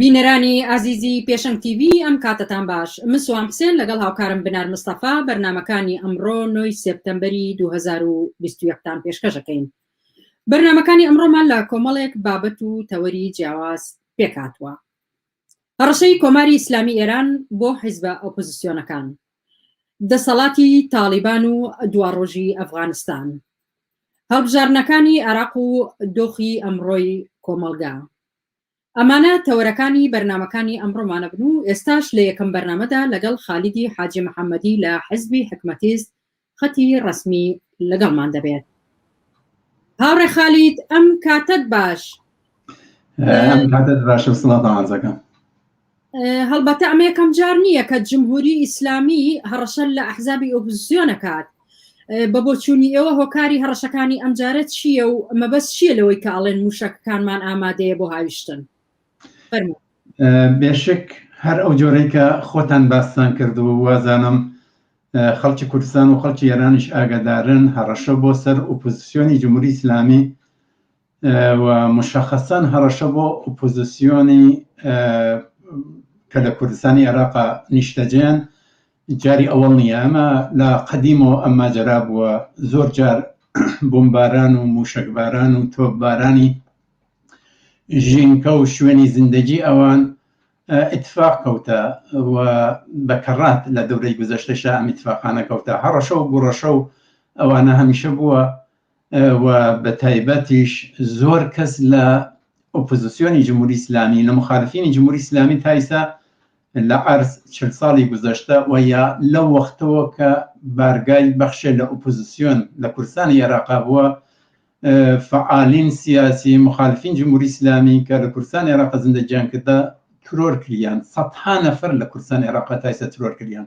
بینەرانی ئازیزی پێشەنگ تیڤی ئەم کاتەتان باش من سوام حسێن لەگەڵ هاوکارم بنار مستەفا بەرنامەکانی ئەمڕۆ نۆی سێپتەمبەری دوو هەزار و بیست و یەک تان پێشکەش ئەکەین بەرنامەکانی ئەمڕۆمان لە کۆمەڵێک بابەت و تەوەری جیاواز پێکهاتووە هەڕەشەی کۆماری ئیسلامی ئێران بۆ حیزبە ئۆپۆزیسیۆنەکان دەسەڵاتی تاڵیبان و دواڕۆژی ئەفغانستان هەڵبژاردنەکانی عێراق و دۆخی ئەمڕۆی کۆمەڵگا ئەمانە تەوەرەکانی بەرنامەکانی ئەمڕۆمان ئەبن و ئێستاش لە یەکەم بەرنامەدا لەگەڵ خالیدی حاجی محەمەدی لە حزبی حکمەتیست خەتی ڕەسمی لەگەڵمان دەبێت. هاوڕێ خالید ئەم کاتەت باش. ئەم کاتەت باشە سڵاو تاعەزەکەم. هەڵبەتە ئەمە یەکەم جار نییە کە جمهوری ئیسلامی هەڕەشە لە ئەحزابی ئۆپزیۆنەکات بە بۆچوونی ئێوە هۆکاری هەڕەشەکانی ئەمجارە چییە و مەبەست چییە لەوەی کە ئاڵێن موشەکەکانمان ئامادەیە بۆ هاویشتن بێشک هەر ئەو جۆرەی کە خۆتان باستان کردو وازانم خەڵکی کوردستان و خەڵکی ئێرانیش ئاگادارن هەڕەشە بۆ سەر ئۆپۆزیسیۆنی جمهوری ئیسلامی و مشەخەسەن هەڕەشە بۆ ئۆپۆزسیۆنی کە لە کوردستانی عێراقا نیشتەجێن جاری ئەوەڵ نییە ئەمە لە قەدیمەوە ئەم ماجرا بووە زۆر جار بمباران و موشەکباران و تۆپبارانی ژینکە و شوێنی زیندەجی ئەوان اتفاق کەوتە و بەکەڕات لە دەورەی گوزەشتەشا ئەم اتفاقانە کەوتە هەڕەشە و گوڕەشە و ئەوانە هەمیشە بووە و بە تایبەتیش زۆر کەس لە ئۆپۆزیسیۆنی جمهوری ئیسلامی لە مخالفینی جمهوری ئیسلامی تا ئیستا لە عەرز چل ساڵی گوزەشتە و یا لەو وەختەوە کە بارگای بەخشێ لە ئۆپۆزیسیۆن لە کوردستانی عێراقا بووە فعالین سیاسی مخالفین جمهوری ئیسلامی کە لە کوردستان عێراق زندەجیان کردە ترۆر کریان سەدها نەفەر لە کوردستان عێراق تا ئیستا ترۆر کریان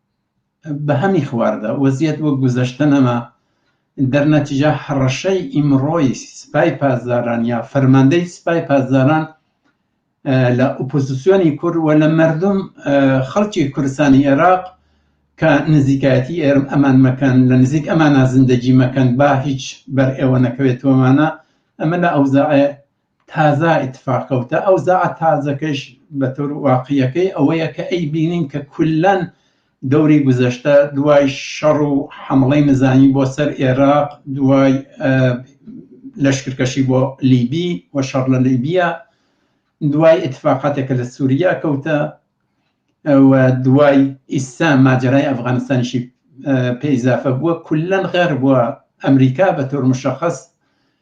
بەهەمی خواردە وەزیەت وەک گوزەشتە نەما دەرنەتیجا هەڕەشەی ئیمڕۆی سپای پاسداران یا فەرماندەی سپای پاسداران لە ئۆپۆزیسیۆنی کورد و لە مردم خەڵکی کوردستانی عێراق کە نزیکایەتی ئێرم ئەمان مەکەن لە نزیک ئەمانە زندگی مەکەن با هیچ بەر ئێوە نەکەوێتەوەمانە ئەمە لە ئەوزاعێ تازە ئیتفاق کەوتە ئەو زاعە تازەکەش بە تۆر واقعیەکەی ئەوەیە کە ئەی بینین کە کولەن دەوری گوزەشتە دوای شەڕ و حمڵەی نزانی بۆ سەر ئێراق دوای لەشکرکەشی بۆ لیبی و شەڕ لە لیبیە دوای اتفاقاتێکە لە سووریا کەوتە و دوای ئیستا ماجرای ئەفغانستانیشی پێیزافە بووە کلەن غێر بووە ئەمریکا بە تۆر مشخص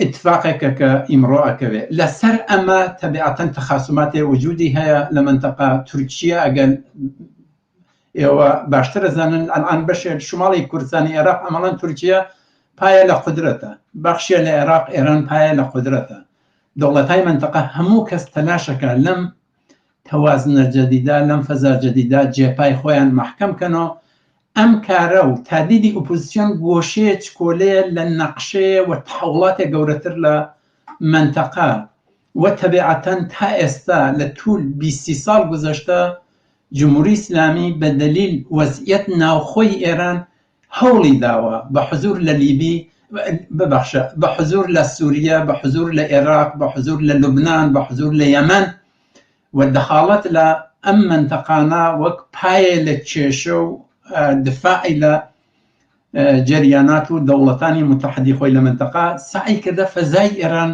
ئیتفاقێکە کە ئیمڕۆ ئەکەوێ لە سەر ئەمە تەبیعەتەن تەخاسوماتێ وجودی هەیە لە مەنتەقە تورکیە ئەگەر ئێوە باشتر ئەزانن ئەلان بەشێک شماڵی کوردستانی عێراق ئەمەڵەن تورکیە پایە لە قدرەتە بەخشیە لە عێراق ئێران پایە لە قدرەتە دەوڵەتای منتەقە هەموو کەس تەلاشەکە لەم توازنە جەدیدە لەم فەزا جەدیدە جێپای خۆیان مەحکەم کەنۆ ئەم کارە و تا دیدی ئوپوزسیۆن گۆشەیە چکۆلەیە لە نەقشەیە و تەحوڵاتێ گەورەتر لە مەنتەقە و تەبێعەتەن تا ئێستا لە توول بیست سی ساڵ گوزەشتە جموری ئیسلامی بە دەلیل وەزعیەت ناوخۆی ئێران هەوڵی داوە بە حزور لە لیبی ببەخشە بە حزور لە سوریە بە حزور لە ئێراق بە حزور لە لوبنان بە حزور لە یەمەن و دەخاڵەت لە ئەم مەنتەقانە وەک پایە لە کێشە و دفاعی لە جەریانات و دەوڵەتانی متحدی خۆی لە مەنتەقا سەعی کردە فەزای ئێران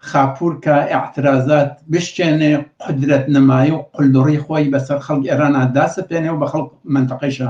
خاپور کە ئاعترازات بشکێنێ قدرەت نمای و قلدڕی خۆی بەسەر خەڵک ئێرانە داسەپێنێ و بە خەڵک منتەقەیشە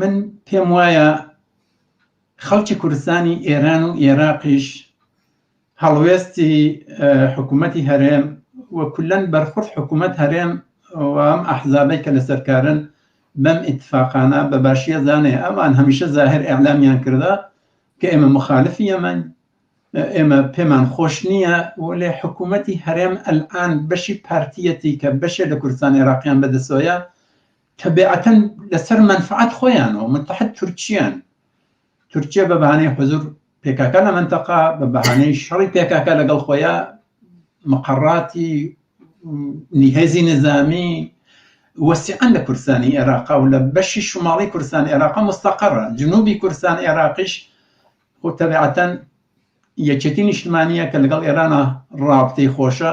من پێم وایە خەڵکی کوردستانی ئێران و ئێراقیش هەڵوێستی حکوومەتی هەرێم و کولەن بەرخورد حکوومەت هەرێم ئەم ئەحزابەی کە لەسەرکارن بەم ئیتفاقانە بە باشیە زانێ ئەمان هەمیشە زاهر ئەعلامیان کردە کە ئێمە مخالفی یەمەن ئێمە پێمان خۆش نییە وەێ حکوومەتی هەرێم ئەلان بەشی پارتیەتی کە بەشێ لە کوردستان عێراقیان بەدەسۆیە تەبیعەتەن لەسەر مەنفەعەت خۆیانەوە متحد تورکییەن، تورکییە بە بەهانەی حزور پێکاکە لە مەنتەقە بە بەهانەی شەڕی پێکاکە لەگەڵ خۆیە مقەڕاتی هێزی نظامی وەسیعەن لە کوردستانی عێراقا و لە بەشی شماڵی کوردستان عێراقا مستەقەڕە جنوبی کوردستان عێراقیش خۆ تەبیعەتەن یەکێتی نیشتمانیە کە لەگەڵ ئێرانە ڕابتەی خۆشە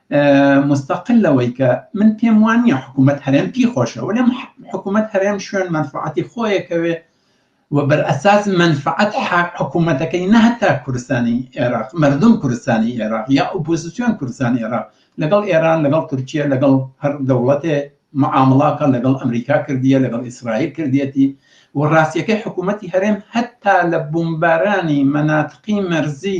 مستقل لەوەی کە من پێم وان نیە حکوومەت هەرێم پی خۆشە وەێ حکوومەت هەرێم شوێن منفعاتی خۆیەکەوێ و بەر ئەساس منفعات حکوومەتەکەی نەهتا کوردستانی عێراق مردم کوردستانی عێراق یا ئۆپۆزیسیۆن کوردستانی عێراق لەگەڵ ئێران لەگەڵ تورکیە لەگەڵ هەر دەوڵەتێ معامڵاکە لەگەڵ ئەمریکا کردیە لەگەڵ ئیسرائیل کردیەتی و ڕاستیەکەی حکوومەتتی هەرێم هەتا لە بمبارانی مەناتقی مەرزی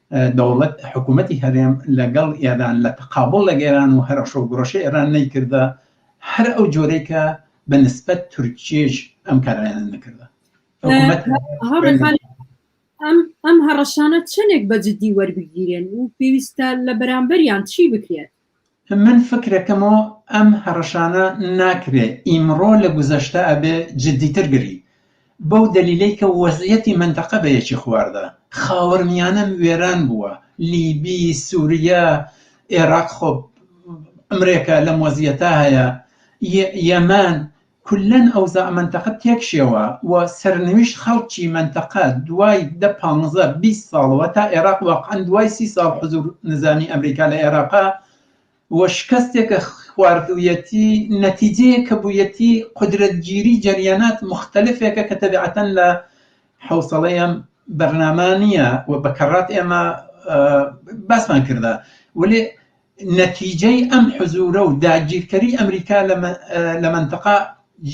دەوڵەت، حکوومەتی هەرێم لە گەڵ ئێران لە تەقابوڵ لە گێران و هەرەشە و گوڕەشە ئێران نەیکردە هەر ئەو جۆرەی کە بە نسبەت تورکییەش ئەم کارانە نەکردە. ئەم هەڕەشانە چەندێک بە جددی وەربگیرێن و پێویستە لە بەرامبەریان چی بکرێت؟ من فکرەکەمۆ ئەم هەڕەشانە ناکرێ ئیمڕۆ لە گوزەشتە ئەبێ جدیتر گری بەو دەلیلەی کە وەزعیەتی مەنتەقە بە یەکی خواردە خاوەرمیانە وێران بووە لیبی سوریە ئێراق خۆ ئەمرێکا لەم وەزیەتا هەیە یەمان کوللەن ئەوزاع مەنتەقە تێکشێوە و سەرنویشت خەڵکی مەنتەقە دوای دە پانزە بیست ساڵەوە تا ئێراق واقعەن دوای سی ساڵ حزور نزامی ئەمریکا لە ئێراقا و شکەستێک کە خواردویەتی نەتیجەیەک کە بویەتی قودرەتگیری جەریانات موختەلفێکە کە تەبیعەتەن لە حەوسەڵەی ئەم بەرنامە نیە و بە کەڕات ئێمە باسمان کردە وەلێ نەتیجەی ئەم حزوورە و داگیرکەری ئەمریکا لە مەنتقە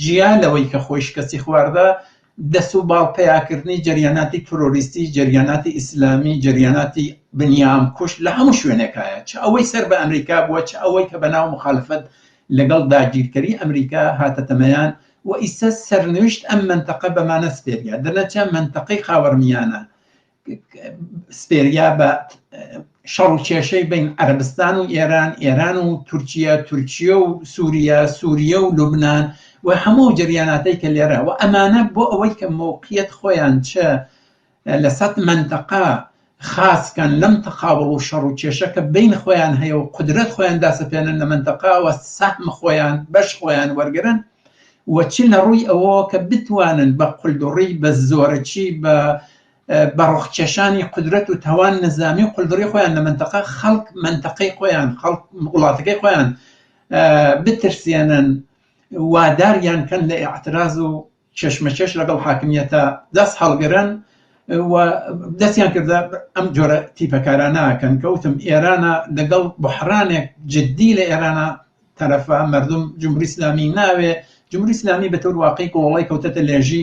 جیا لەوەی کە خۆی شکستی خواردە، دەست و باڵ پەیاکردنی جەریاناتی ترۆریستی، جەریاناتی ئیسلامی، جەریاناتی بنیامکوژ لە هەموو شوێنێکایە، چ ئەوەی سەر بە ئەمریکا بووە، چ ئەوەی کە بەناو موخالفەت لەگەڵ داگیرکەری ئەمریکا هاتەتە مەیان و ئیستا سەرنویشت ئەم مەنتقە بەمانە سپێریا، دەرنەچە مەنتقەی خاوەرمیانە سپێریا بە شەڕ و کێشەی بین عەربستان و ئێران ئێران و تورکیا تورکیا و سووریا سووریا و لوبناان و هەموو جریاناتەی کە لێرە و ئەمانە بۆ ئەوەی کە مووقیت خۆیان چ لە سەد منتەقا خاصکەن لەم تەقاوڵ و شەڕ و کێشەکە بین خۆیان هەیە و قدرەت خۆیان داسەپێنن لە منتەقاوە سەحمە خۆیان بەش خۆیان وەرگن و چ لە ڕووی ئەوە کە بتوانن بە قلدوڕی بە زۆرەکی بە بە ڕۆخکێشانی قودرەت و تاوان نەزامی و قولدڕی خۆیان لە مەنتەقە خەڵک مەنتەقەی خۆیان خەڵک وڵاتەکەی خۆیان بترسێنن واداریان کەن لە ئاعتراز و چێشمەچێش لەگەڵ حاکمیەتە دەست هەڵگرن دەستیان کردە ئەم جۆرە تیپەکارانەکەن کەوتم ئێرانە لەگەڵ بحرانێک جددی لە ئێرانە تەرەفە مردم جمهوری اسلامی ناوێ جمهوری اسلامی بە تەور واقعی کۆڵی کەوتەتە لێژی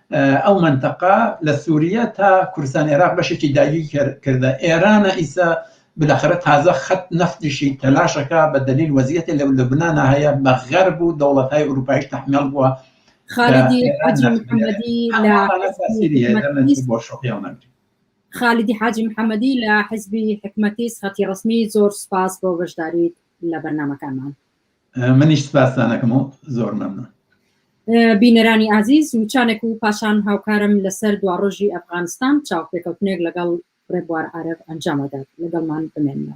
ئەو مەنتەقە لە سوریە تا کوردستان عێراق بەشێکی داگیر کردە ئێرانە ئیسە بلاخرە تازە خەت نەفتیشی تەلاشەکە بە دلیل وەزیەتی لە لەبنانا هەیە بە غەر بوو دەوڵەتهای ئوروپایش تحمل بووە خالیدی حاجی محەممەدی لە حزبی حکومەتی سخەتی ڕسمی زۆر سپاس بۆ بەشداریت لە بەرنمەکانمان منیش سپاستانەکەم و زۆر مەمنون بینەرانی ئازیز وچانێک و پاشان هاوکارم لەسەر دواڕۆژی ئەفغانستان چاوپێکەوتنێک لەگەڵ ڕێبوار عرب ئەنجامەدات لەگەڵمان بمێنەوە.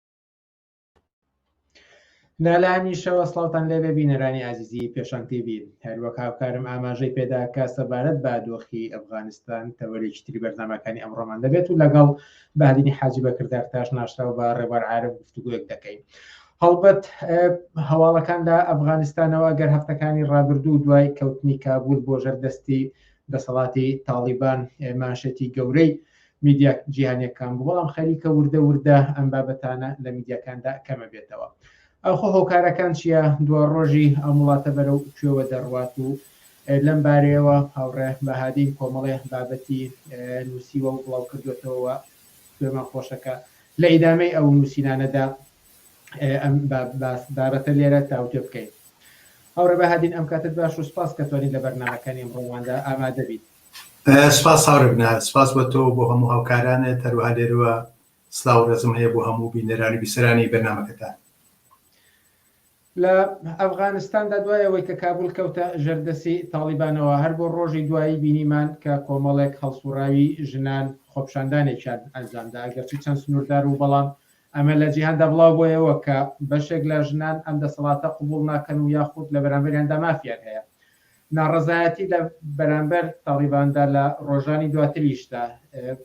لالانیشەوە سڵاوتان لێبێ بینەرانی ئازیزی پێشان تیوی هەروەک هاوکارم ئاماژەی پێدا کە سەبارەت بە دۆخی ئەفغانستان تەوەرێکی تری بەرنمەکانی ئەمڕۆمان دەبێت و لەگەڵ بادینی حاجی بەکردار تاش ناشراو بە ڕێبار عاعرف گفتوگویەک دەکەین. هەڵبەت هەواڵەکان لە ئەفغانستانەوە گەر هەفتەکانی ڕابردوو دوای کەوتنی کابول بۆ ژەردەستی دەسەڵاتی تاڵیبان ماشێتی گەورەی میدیا جیهانیەکان بوو بەڵام خەریکە وردە وردە ئەم بابەتانە لە میدیاکاندا کەمە بێتەوە ئەوخۆ هۆکارەکان چییە دو ڕۆژی ئەم وڵاتە بەرەو کوێوە دەڕوات و لەم بارەیەوە هاوڕێ بەهادین کۆمەڵێ بابەتی نووسیوە و بڵاو کردوێتەوە گوێمان خۆشەکە لە ئیدامەی ئەو نووسینانەدا ئەم بابەتە لێرە تاوتێ بکەین هاوڕێ بەهادین ئەم کاتت باش و سپاس کە توانین لە بەرنمەکانی ئەمڕۆواندا ئامادەبیت سپاس هاوڕێ نە سپاس بۆ تۆ بۆ هەموو هاوکارانت هەروها لێرەوە سلااو ڕێزم هەیە بۆ هەموو بینەرانی بیسەرانی بەرنمەکەتان لە ئەفغانستاندا دوای ئەوەی کە کابل کەوتە ژەردەسی تاڵیبانەوە هەر بۆ ڕۆژی دوایی بینیمان کە کۆمەڵێک هەڵسوڕاوی ژنان خۆپشاندانێکیان ئەنجامدا گەرچی چەند سنووردار و بەڵام ئەمە لە جیهاندا بڵاو بۆیەوە کە بەشێک لە ژنان ئەم دەسەڵاتە قوبول ناکەن و یاخود لە بەرامبەریاندا مافیان هەیە ناڕەزایەتی لە بەرامبەر تاڵیباندا لە ڕۆژانی دواتریشدا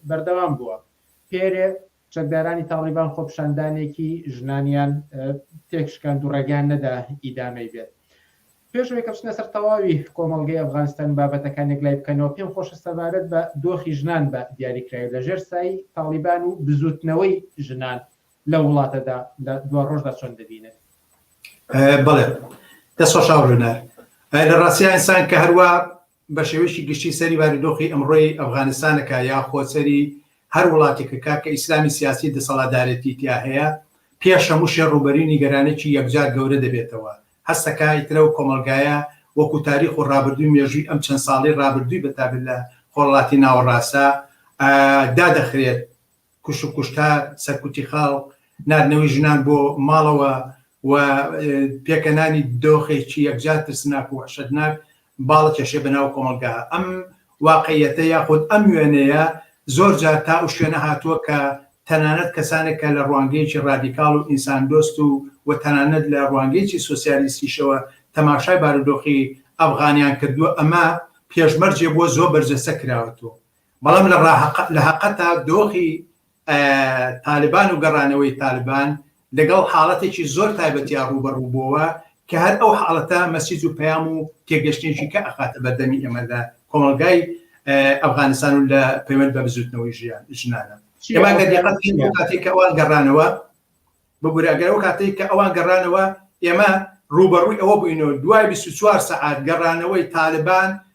بەردەوام بووە. پێرێ، چەکدارانی تاڵیبان خۆپیشاندانێکی ژنانیان تێکشکاند و ڕێگەیان نەدا ئیدامەی بێت. پێش ئەوەی کە بچنە سەر تەواوی کۆمەڵگەی ئەفغانستان و بابەتەکان یەکلای بکەنەوە، پێم خۆشە سەبارەت بە دۆخی ژنان بە دیاریکراوی لە ژێر سایەی تاڵیبان و بزووتنەوەی ژنان لە وڵاتەدا لە دوا ڕۆژدا چۆن دەبینن؟ بەڵێ دەست خۆش ئاو لۆنار لە ڕاستیا ئینسان کە هەروە بە شێوەیەکی گشتی سەری بارودۆخی ئەمڕۆی ئەفغانستانەکە یا خۆسەری هەر وڵاتێکە کە کە ئیسلامی سیاسی دەسەڵادارێتی تیا هەیە پێش هەموو شێ ڕوبەری نیگەرانێکی یەکجار گەورە دەبێتەوە هەستەکە ئیترە و کۆمەلگایە وەکو تاریخ و ڕابردووی مێژووی ئەم چەند ساڵی ڕابردووی بەتابێت لە خۆڵاتی ناوەڕاستە دادەخرێت کوشت و کوشتار، سەرکوتی خەڵک، ناردنەوەی ژنان بۆ ماڵەوە و پێکەنانی دۆخێکی یەکجار ترسناک و وەحشەتناک باڵەکێشێ بەناو کۆمەڵگا. ئەم واقعیەتە یاخود ئەم وێنەیە زۆر جار تا ئەو شوێنە هاتووە کە تەنانەت کەسانێک کە لە ڕوانگەیەکی ڕادیکاڵ و ئینساندۆست و و تەنانەت لە ڕوانگەیەکی سۆسیالیستیشەوە تەماشای بارودۆخی ئەفغانیان کردووە، ئەمە پێشمەرجێ بووە زۆر بەرجەستە کراوەتەوە. بەڵام لە هەقەتا دۆخی تالبان و گەڕانەوەی تالبان لەگەڵ حاڵەتێکی زۆر تایبەتیا ڕووبەڕوو بۆوە کە هەر ئەو حاڵەتە مەسیج و پەیام و تێگەشتێکی کە ئەخاتە بەردەمی ئێمەدا کۆمەلگای ئەفغانستان و لە پەیوەند بە بزوتنەوەی ژیان ژنانە کاتێک کە ئەوان گەڕانەوە ببوورە ئەگەر ئەو کاتێک کە ئەوان گەڕانەوە ئێمە ڕوبەڕووی ئەوە بووینەوە دوای 24 سعات گەڕانەوەی تالبان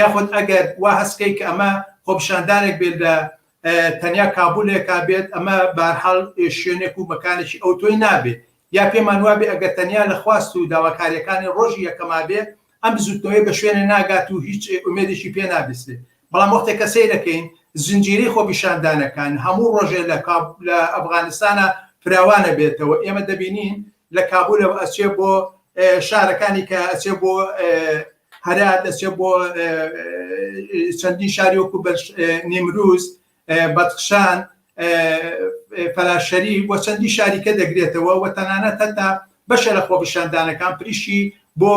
یاخود ئەگەر وا هەست کەی کە ئەمە خۆپیشاندانێک بێت لە تەنیا کابولێکا بێت ئەمە بارحاڵ شوێنێک و مەکانێکی ئەو تۆی نابێت یا پێمان وابێ ئەگەر تەنیا لە خواست و داواکاریەکانی ڕۆژی یەکەما بێت ئەم بزوتنەوەی بە شوێنێ ناگات و هیچ ئومێدێکی پێ نابیسێت بەڵام وەختێک کە سەیرەکەین زنجیری خۆپیشاندانەکان هەموو ڕۆژێ لە ئەفغانستانە فراوانە بێتەوە ئێمە دەبینین لە کابولەوە ئەچێ بۆ شارەکانی کە ئەچێ بۆ هەرات ئەچێ بۆ چەندین شاری وەکو بەش نیمروز بەدخشان فەراشەری بۆ چەندی شاریکە دەگرێتەوە و تەنانەت هەتا بەشە لە خۆپیشاندانەکان پریشی بۆ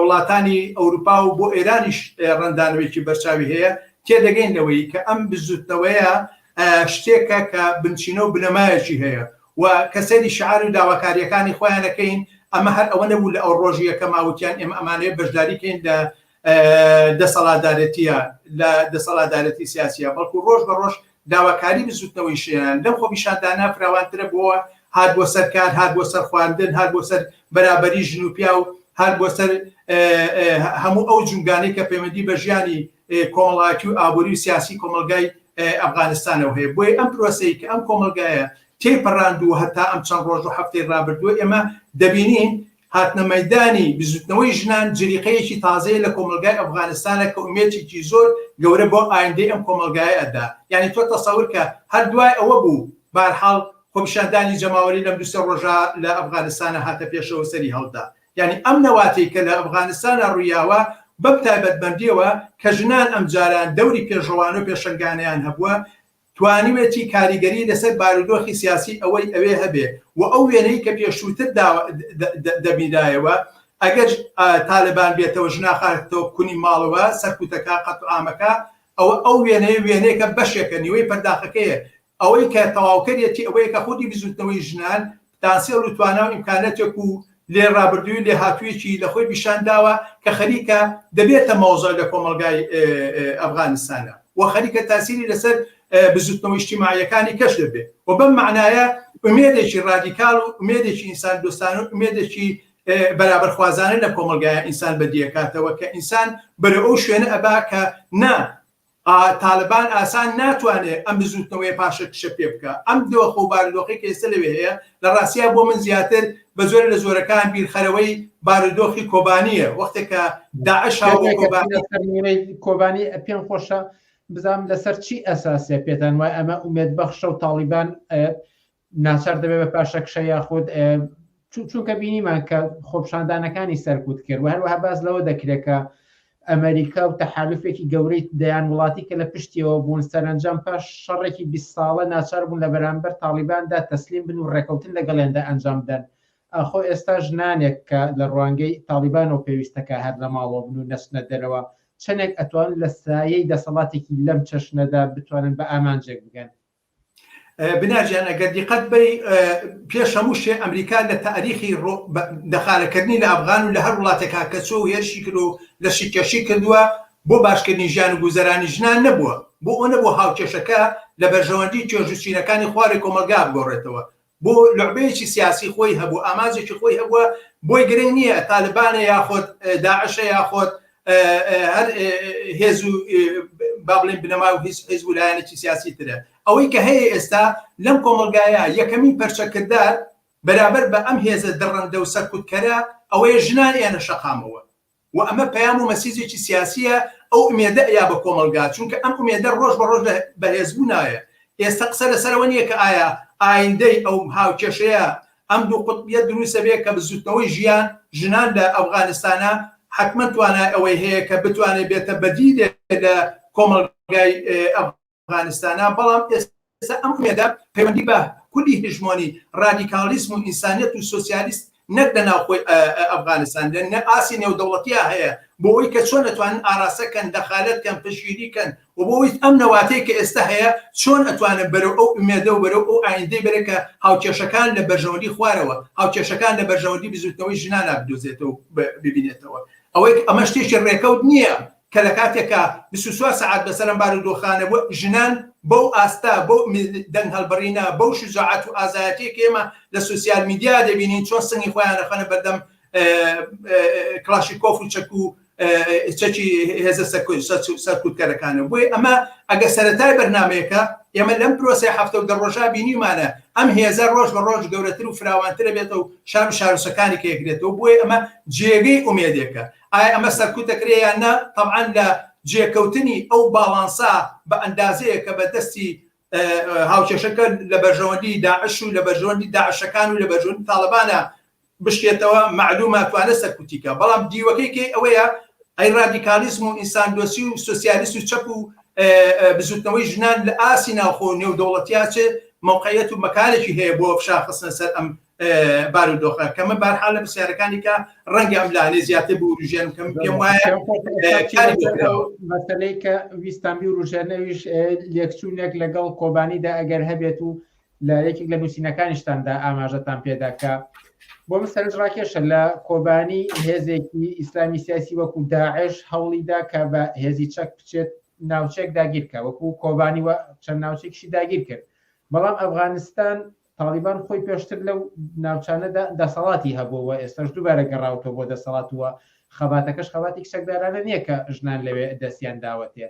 وڵاتانی ئەوروپا و بۆ ئێرانیش ڕەندانوێکی بەرچاوی هەیە تێدەگەین لەوەی کە ئەم بزوتنەوەیە شتێکە کە بنچینە و بنەمایەکی هەیە و کە سەیری شیعار و داواکارییەکانی خۆیان ئەکەین ئەمە هەر ئەوە نەبوو لە ئەو ڕۆژییە کە ماوتیان ئێمە ئەمانەیە بەشداری کەین لە دەسەڵاتدارێتیە لە دەسەڵاتدارێتی سیاسیە بەڵکو ڕۆژ بە ڕۆژ داواکاری بزوتنەوەی شیان لەم خۆپیشاندانە فراوانترە بۆوە هات بۆ سەر کار هات بۆ سەر خواردن هات بۆ سەر بەرابری ژن و پیا و هات بۆ سەر هەموو ئەو جوگانەی کە پەیوەندی بە ژیانی کۆمەڵایەتی و ئابووری و سیاسی کۆمەڵگای ئەفغانستانەوە هەیە، بۆیە ئەم پرۆسەی کە ئەم کۆمەڵگایە تێیپەڕاندووە هەتا ئەم چەند ڕۆژ و هەفتەی ڕابردووە ئێمە دەبینین هاتنە مەیدانی بزووتنەوەی ژنان جریقەیەکی تازەیە لە کۆمەڵگای ئەفغانستانە کە ئومێدێکی زۆر گەورە بۆ ئایندەی ئەم کۆمەڵگایە ئەدا یانی تۆ تەسەور کە هەر دوای ئەوە بوو بارحاڵ خۆپیشاندانی جەماوەری لەم دوو سێ ڕۆژە لە ئەفغانستانە هاتە پێشەوە سەری هەڵدا یانی ئەم نەواتەی کە لە ئەفغانستانا ڕوویاوە، بەم تایبەتمەندییەوە کە ژنان ئەم جاران دەوری پێشڕەوانە و پێشەنگانەیان هەبووە، توانیوێتی کاریگەری لەسەر بارودۆخی سیاسی ئەوەی ئەوێ هەبێ و ئەو وێنەی کە پێشووتر دەبینرایەوە، ئەگەر تالبان بێتەوە ژناخاتەوە کونی ماڵەوە، سەرکوتەکە، قەتلوعامەکە، ئەوە ئەو وێنەیە وێنەیەکە بەشێکە، نیوەی پەرداخەکەیە، ئەوەی کە تەواوکەرێتی ئەوەیە کە خودی بزووتنەوەی ژنان پتانسێڵ و توانا و ئیمکانەتێک و لێ ڕابردووی و لێهاتوویەکی لە خۆی پیشان داوە کە خەریکە دەبێتە مەوزع لە کۆمەڵگای ئەفغانستانا و خەریکە تاسیری لەسەر بزووتنەوە ئیجتیماعییەکانی کەش دەبێ و بەم مەعنایە ئومێدێکی ڕادیکاڵ و ئومێدێکی ئینسان دۆستان و ئومێدێکی بەرابەرخوازانە لە کۆمەڵگایە ئینسان بەدیەکاتەوە کە ئینسان بەرەو ئەو شوێنە ئەبا کە نا تالەبان ئاسان ناتوانێت ئەم بزووتنەوەیە پاشەکشە پێ بکا. ئەم دۆخ و بارودۆخەی کە ئێستا لەوێ هەیە، لە ڕاستیا بۆ من زیاتر بە زۆرێ لە زۆرەکان بیرخەرەوەی بارودۆخی کۆبانییە، وەختێک کە داعش هاو بۆ کۆبانی. کێ دەڵێ کە سەرنوێی کۆبانی پێم خۆشە بزانم لەسەر چی ئەساسە پێتان وایە ئەمە ئومێدبەخشە و تاڵیبان ناچار دەبێت بە پاشەکشە یاخود چونکە بینیمان کە خۆپشاندانەکانی سەرکوت کرد و هەروەها باز لەوە دەکرێتکە ئەمریکا و تەحالفێکی گەورەی دەیان وڵاتی کە لە پشتیەوە بوون سەرنجام پاش شەڕێکی 20 ساڵە ناچار بوون لە بەرامبەر تاالباندا تەسلیم بن و ڕێکەوتن لەگەڵێندا ئەنجام بدەن ئاخۆ ئێستا ژنانێک کە لە ڕوانگەی تاالبان و پێویستەکە هەر لە ماڵەوە بن و نەچنە دەرەوە چەندێک ئەتوان لە سایەی دەسەڵاتێکی لەم چەشنەدا بتوانن بە ئامانجێک بگەن بنار جان ئەگەر دیقەت بەی پێش هەموو شێ ئەمریکا لە تاریخی دەخارەکردنی لە ئەفغان و لە هەر وڵاتێکا کە چۆ و هێرشی کرد و لە شیکێشی کردووە بۆ باشکردنی ژیان و گوزەرانی ژنان نەبووە بۆ ئەو نەبوو هاوکێشەکە لە بەرژەوەندی توێژ و چینەکانی خوارێ کۆمەڵگا بگۆڕێتەوە بۆ لوعبەیەکی سیاسی خۆی هەبوو ئاماجێکی خۆی هەبووە بۆی گرنگ نییە تالبانە یاخۆت داعشە یاخۆت هەر هێز و با بڵێن بنەما و هیچ حیز و لایەنێکی سیاسی ترە ئەوەی کە هەیە ئێستا لەم کۆمەلگایە یەکەمین پەرچەکردار بەرابەر بە ئەم هێزە دڕندە و سەرکوتکەرە ئەوەیە ژنان ئێنە شەقامەوە وە ئەمە پەیام و مەسیجێکی سیاسییە، ئەو ئومێدە ئەیا بە کۆمەڵگا، چونکە ئەم ئومێدە ڕۆژ بە ڕۆژ لە بەهێزبوونایە، ئێستە قسە لەسەر ئەوە نییە کە ئایا ئایندەی ئەو هاوکێشەیە ئەم دوو قوتبییە دروست ئەبێ کە بزووتنەوەی ژیان، ژنان لە ئەفغانستانە حەتمەن توانای ئەوەی هەیە کە بتوانێ بێتە بەدیلێک لە کۆمەڵگای ئەفغانستان. ئەفغانستانە، بەڵام ئێستا ئەم ئومێدە پەیوەندی بە خولی هژمۆنی، ڕادیکاڵیسم و ئینسانیەت و سۆسیالیست نەک لە ناوخۆی ئەفغانستان لە ئاستی نێودەوڵەتیا هەیە بۆ ئەوەی کە چۆن ئەتوانن ئاراستە کەن، دەخالەت کەن، پشتگیری کەن و بۆ ئەوەی ئەم نەواتەی کە ئێستا هەیە چۆن ئەتوانێت بەرەو ئەو ئومێدە و بەرەو ئەو ئایندەی بەرێت کە هاوکێشەکان لە بەرژەوەندی خوارەوە، هاوکێشەکان لە بەرژەوەندی بزووتنەوەی ژنانا بدۆزێتەوە و ببینێتەوە. ئەوەی ئەمە شتێکی ڕێکەوت نییە، کە لە کاتێکا بیست و چوار سەعات بەسەر ئەم بارودۆخانە بووە، ژنان بەو ئاستە، بەو دەنگهەڵبڕینە، بەو شوجاعەت و ئازایەتیەی کە ئێمە لە سۆسیال میدیا دەبینین، چۆن سنگی خۆیان ئەخەنە بەردەم کڵاشیکۆف و چەک و چەکی هێزە سەرکوتکەرەکانەوە. بۆیە ئەمە ئەگەر سەرەتای بەرنامەیەکە، ئێمە لەم پرۆسەی حەفتە و دە ڕۆژە بینیومانە، ئەم هێزە ڕۆژ بە ڕۆژ گەورەتر و فراوانتر ئەبێتەوە و شار و شارۆچەکانی کەیەگرێتەوە، بۆیە ئەمە جێگەی ئومێدێکە. ئایا ئەمە سەرکوت دەکرێت یان نا، تەبعەن لە جێکەوتنی ئەو باڵانسە بە ئەندازەیەک کە بە دەستی هاوکێشەکە لە بەرژەوەندی داعش و لە بەرژەوەندی داعشەکان و لە بەرژەوەندی تاڵەبانە بشکێتەوە، مەعلوومە توانێت سەرکوتی کا، بەڵام دیوەکەی کەی ئەوەیە ئەی ڕادیکاڵیزم و ئینساندۆستی و سۆسیالیست و چەپ و بزووتنەوەی ژنان لە ئاستی ناوخۆ و نێودەوڵەتیا چ مەوقعیەت و مەکانێکی هەیە بۆ فشار خستنە سەر ئەم بارودۆخە کەمە بارحال لە پرسیارەکانیکە ڕەنگە ئەم لانێ زیاتر بوروژێن کەم پێم وایە مەسلەی کە ویستانبی و ڕژێنەویش لێکچوونێک لەگەڵ کۆبانیدا ئەگەر هەبێت و لە یەکێک لە نووسینەکانیشتاندا ئاماژەتان پێداکە بۆ من سەرنج ڕاکێشە لە کۆبانی هێزێکی ئیسلامی سیاسی وەکو داعش هەوڵیدا کە بە هێزی چەک بچێت ناوچێک داگیرکە وەکو کۆبانی و چەند ناوچێکشی داگیر کرد بەڵام ئەفغانستان تاڵیبان خۆی پێشتر لەو ناوچانەدا دەسەڵاتی هەبووە و ئێستاش دووبارە گەڕاوەتەوە بۆ دەسەڵات و خەباتەکەش خەباتێکی چەکدارانە نییە کە ژنان لەوێ دەستیان داوەتێ.